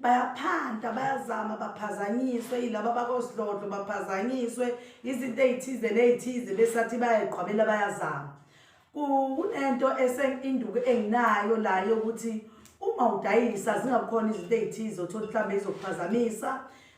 bayaphanta bayazama baphazanyiswe yilaba bakosidlodlo baphazanyiswe izinto ey'thize ney'thize besathi bayayigqwabela bayazama kunento esenginduku enginayo la yokuthi uma udayisa zingabukhona izinto ey'thize othola mhlawumbe izokuphazamisa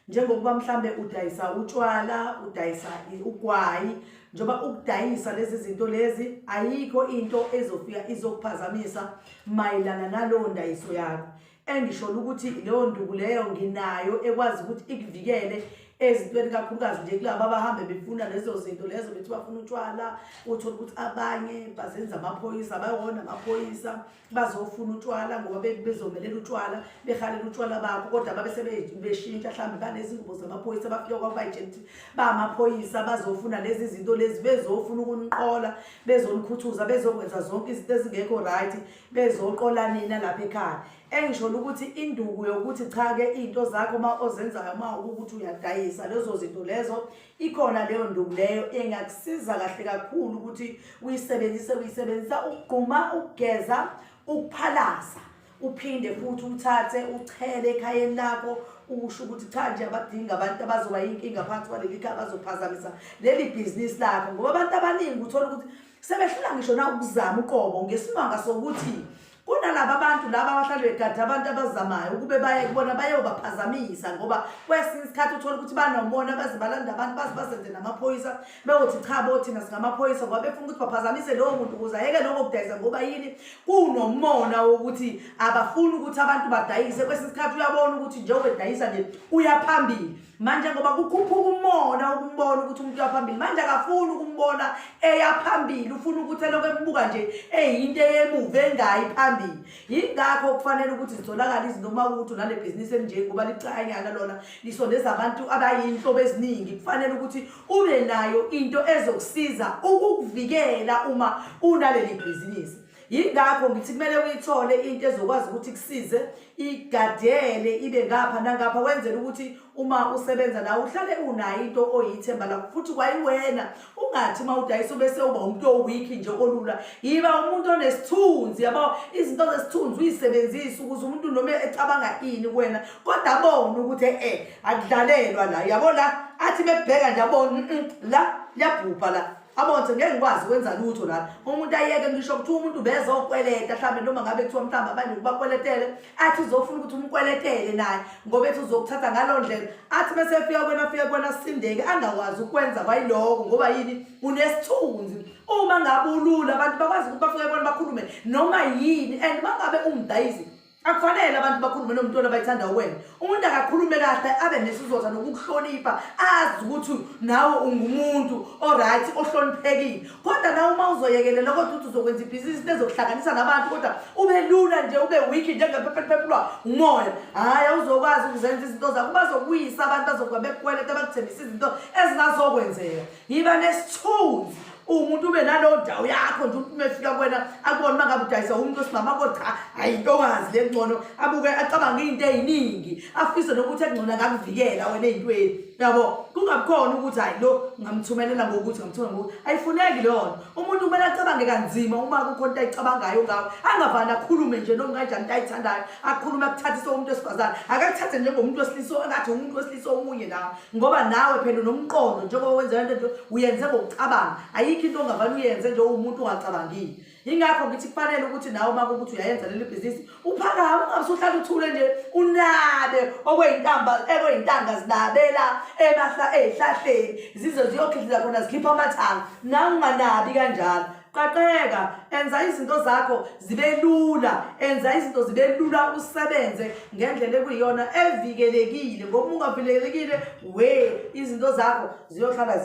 njengokuba mhlambe udayisa utshwala udayisa ugwayi njengoba ukudayisa lezi zinto lezi ayikho into ezofika izokuphazamisa mayelana nalowo ndayiso yakho engisholo ukuthi leyo nduku leyo nginayo ekwazi ukuthi ikuvikele ezintweni kakhulukazi nje kulaba abahambe befuna lezo zinto lezo bethi bafuna utshwala uthole ukuthi abanye bazenza amaphoyisa bayona amaphoyisa bazofuna utshwala ngoba bezomelela utshwala behalela utshwala bakho kodwa babe sebeshintsha mhlawumbe banezingubo zamaphoyisa bafike kwabayijenti bamaphoyisa bazofuna lezi zinto lezi bezofuna ukuniqola bezonikhuthuza bezokwenza zonke izinto ezingekho right bezoqola nina lapha ekhaya engisholo ukuthi induku yokuthi cha-ke iy'nto zakho uma ozenzayo uma ukuthi uyadayisa lezo zinto lezo ikhona leyo nduku leyo engakusiza kahle kakhulu ukuthi uyisebenzise uyisebenzisa ukugquma ukugeza ukuphalaza uphinde futhi uthathe uchele ekhayeni lakho usho ukuthi cha nje abadinga abantu abazoba yinkinga phansi kwaleli khaya bazophazamisa leli bhizinisi lakho ngoba abantu abaningi uthola ukuthi sebehlula ngisho na ukuzama uqobo ngesimanga sokuthi kunalaba bantu laba abahlale begade abantu abazamayo ukube baye kubona bayobaphazamisa ngoba kwesinye isikhathi uthole ukuthi banomona baze balanda abantu baze bazenze namaphoyisa beyothi cha bo thina singamaphoyisa ngoba befuna ukuthi baphazamise lowo muntu ukuze ayeke lokho kudayisa ngoba yini kunomona wokuthi abafuni ukuthi abantu badayise kwesinye isikhathi uyabona ukuthi njengoba edayisa nje uyaphambili manje ngoba kukhuphuka umona ukumbona ukuthi umuntu uyaphambili manje akafuni ukumbona eyaphambili ufuna ukuthi elokhu embuka nje eyinto eyemuva engayi phambili yingakho kufanele ukuthi zitholakale izinto uma ukuthi unale bhizinisi elinjengoba licanyana lona lisondeza abantu abayinhlobo eziningi kufanele ukuthi ube nayo into ezokusiza ukukuvikela uma unaleli bhizinisi yingakho ngithi kumele uyithole into ezokwazi ukuthi kusize igadele ibe ngapha nangapha wenzela ukuthi uma usebenza nawe uhlale unayo into oyithemba lakho futhi kwayiwena ungathi uma udayisa ubese uba umuntu owiki nje olula yiba umuntu onesithunzi yabo izinto zesithunzi uyisebenzise ukuze umuntu noma ecabanga ini kuwena kodwa abone ukuthi e-e akudlalelwa la yabo la athi mekubheka nje abone la liyabhubha la abonse ngeke ngikwazi ukwenza lutho lana umuntu ayeke ngisho kuthiwa umuntu bezokweleta mhlawumbe noma ngabe kuthiwa mhlawumbe abanye ukubakweletele athi uzofuna ukuthi umkweletele naye ngoba ethi uzokuthatha ngaloo ndlela athi bese efika kwena afike kwena sindeke angakwazi ukwenza kwayiloko ngoba yini unesithunzi uma ngabe ulula abantu bakwazi ukuthi bafike kwena bakhulume noma yini and uma ngabe ungidayisi akufanele abantu bakhulume nomuntu ona bayithanda wena umuntu akakhulume kahle abe nesizotha nokukuhlonipha azi ukuthi nawe ungumuntu oright ohloniphekile kodwa nawe uma uzoyekelela kodwa ukuthi uzokwenza ibhizinisi lezokuhlanganisa nabantu kodwa ube lula nje ube wiki njengephepheliphephulwa umoya hhayi awuzokwazi ukuzenza izinto zakho bazokuyisa abantu bazokuba bekukweleta bakuthembisa izinto ezingazokwenzeka yiba nesithunzi umuntu ube nalowo ndawo yakho nje umuntu umefika kwena akubona uma ngabe udayisa umuntu osimama ko cha hayi intokazi le ngcono abuke acabange iy'nto ey'ningi afise nokuthi ekungcono akakuvikela wena ey'ntweni yabo kungabikhona ukuthi hayi lo ngamthumelela ngokuthi ngamthumela ngokuthi ayifuneki leyo nto umuntu kumele acabange kanzima uma kukho nto ayicabangayo ngawo angavani akhulume nje noma kanjani into ayithandayo akhulume akuthathise umuntu wesifazane akakuthathe njengomuntu wesilisa angathi umuntu wesilisa omunye nawo ngoba nawe phela unomqondo njengoba wenza lento nje uyenze ngokucabanga ayikho into ongavane uyenze nje uwumuntu ungacabangile yingakho ngithi kufanele ukuthi nawe uma kukuthi uyayenza leli bhizinisi uphakame ungabe usuhlala uthule nje unabe okweyintamba ekweyintanga zinabela emahla eyihlahleni zize ziyokhihliza khona zikhipha amathanga nawe unganabi kanjalo qaqeka enza izinto zakho zibe lula enza izinto zibe lula usebenze ngendlela ekuyiyona evikelekile ngoba ungavikelekile we izinto zakho ziyohlala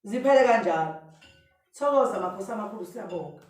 ziphele kanjalo thokoza makhosi amakhulu siyabonga